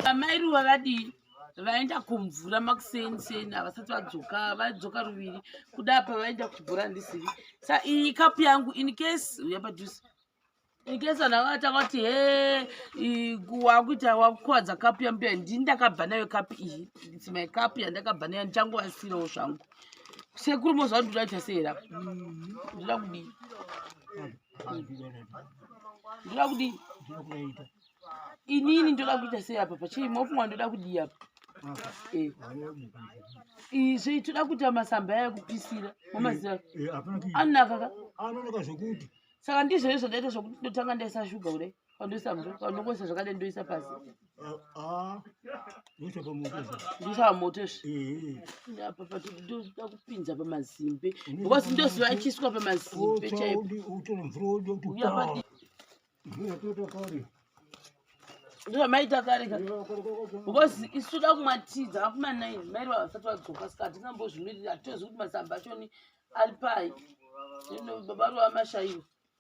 amai ruva vadii vaenda kumvura makuseni seni havasati vadzoka vadzoka ruviri kuda apa vaenda kuchibhora ndisivi sa iyi kapu yangu in case uya padhuze in case vanhu vanga vatanga kuti he wakuita wakukwadza kapu yambuya ndini ndakabva nayo kapu iyi its my kapu yandakabva nayo ndichangovasirawo zvangu sekuru mozva ndinoda kuita seera mm-hmm. ndoda kudii ndoda kudii inini ndoda kuita sei apa pachii mofungwa ndoda kudii apa eh. izvi toda kuita masamba aya kupisira mamaziva eh, eh, anonaka ka saka ndizvo izvo ndaita zvokuti ndotanga ndaisa shuga kudai Pandoisa pandokoisa zvakadai ndoisa pasi. Ah, ah. Ndoisa pamoto. Ndoisa pamoto. Eh. Apa pati ndoda kupinza pamazimbe. Because ndoziva ichiswa pamazimbe chaipo. Utora mvura woda kutopa. Mvura totoka kare. ndozvamaita kare ka because isu da kumwa tii dzakakuma nine mairi vavasati vadzoka saka hatina mbozvimirira hatitozi kuti masamba achoni ari pai baba rovamashaiwa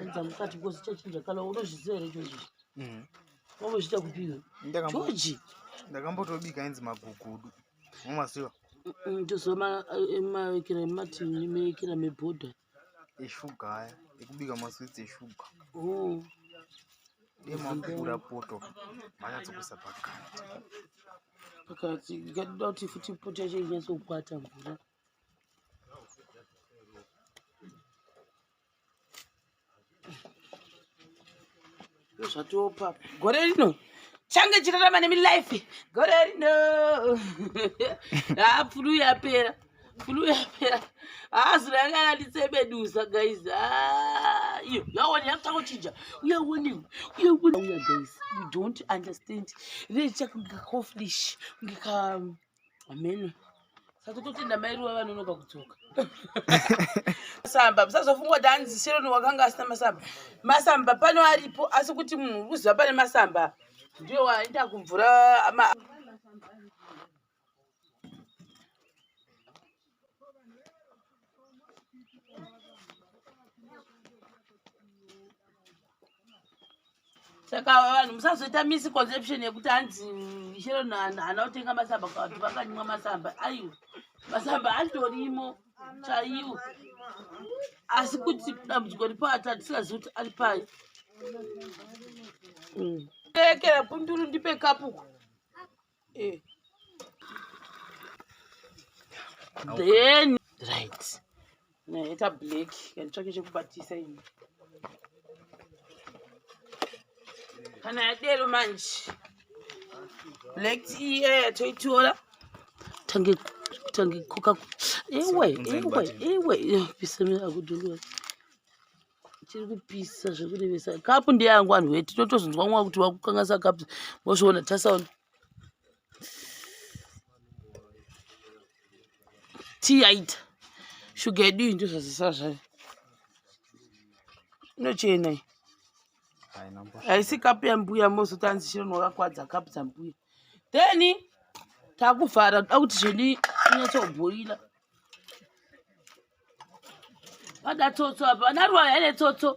Enza mukati because chachinja kala unozviziva here George? Mhm. Wambochita kupiwe. Ndakambo- George. ndakambotobika ainzi magugudu mumaziva Mm, Ndozoma eh, mavekera mativi mevekera mebhodha. eshuga aya ekubika maswitsi eshuga Oh. emapura poto manyatsokuisa pakati Pakati ikatoda kuti futi poto yacho inyatsokwata mvura. ndozvatopa gore rino change chirarama nemi life gore rino haa fulu yapera fulu yapera haa zuro yanga yanditsebedusa guys haa iyo yawona yakutanga kuchinja uyawonewo uyawona uya guys you don't understand rechakungekaoflish ngeka ameno saka totenda mai ruva vanonoka kudzoka masamba musazofungwa kuti anzi sheroni wakanga asina masamba masamba pano aripo asi kuti munhu uri kuziva pane masamba ndiyo waenda kumvura saka vanhu musazoita misconception yekuti hanzi ishero hana kutenga masamba kati vakanyimwa masamba aiwa masamba atorimo chaiwo asi kuti dambudziko ripo ati atisingazivi kuti ari pai mm. ekera punduru ndipe kapuku Eh. Then right. Naita black kanitsvake chekubatisa ini. Kana yadero manje. Black tea eh, toitora. Tange tange koka. Ewe, ewe, ewe. Piseme akudulwa. chiri kupisa zvekurevesa kapu ndeyangu vanhu weti totozonzwa mwa kuti wakukanganisa kapu mozviona tasaona tii yaita shuga yedu iyi ndozvazisa zvayo inochena iyi haisi kapu yambuya mozoti anzi chiro nowakakwadza kapu dzambuya then takuvhara toda kuti zvedi inyatsobhoila Vada tsotso apa, vana ruwa here tsotso?